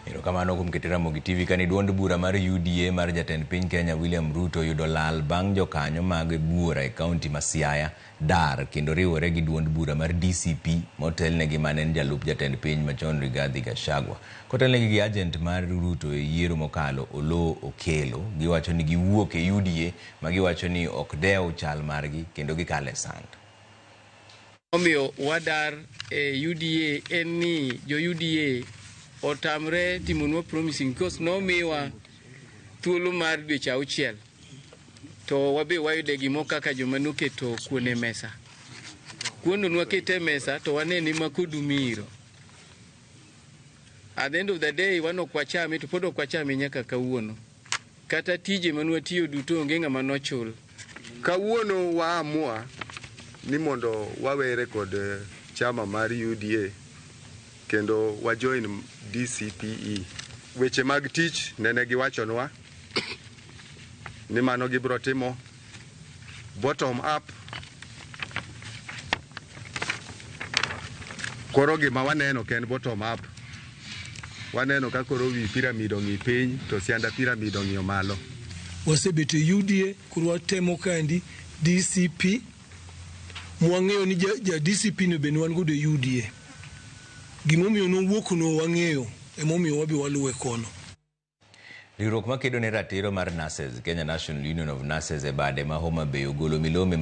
Erokamano kuom keto Ramogi TV kani duond bura mar UDA mar jatend piny Kenya William Ruto oyudo lal bang' jokanyo mag buora e kaunti ma Siaya dar kendo riwore gi duond bura mar DCP motelnegi ma ne en jalup jatend piny machon Rigathi Gachagua. Kotelnegi gi ajent mar Ruto e yiero mokalo Oloo Okello, giwacho ni giwuok e UDA ma giwacho ni ok dew chal margi kendo gikalo e sand. Omiyo wadar e UDA en ni jo UDA otamre timonwa promising because nomiwa thuolo mar dweche auchiel to wabe wayude gimo kaka joma noketo kuon e mesa. Kuondo nwakete e mesa to wane ni makodu miro. At the end of the day wan ok wachame to pod ok wachame nyaka kawuono. Kata tije manwatiyo duto onge ng'ama nochul. Kawuono waamua ni mondo wawere kod chama mar UDA kendo wa join DCPE. Weche mag tich nene giwachonwa ni mano gibiro timo. bottom up. Koro gima waneno ken bottom up. Waneno ka koro wi pyramid ong'i piny to sianda pyramid ong'iyo malo. Wasebet e UDA koro watemo kandi DCP mwang'eyo ni ja, ja DCP no bende wan godo e UDA. Gimomiyo nowuok no wang'eyo emomiyo wabi waluwe kono. Riwruok makedo ne ratiro mar nurses, Kenya National Union of Nurses e bade ma Homa Bay ogolo milome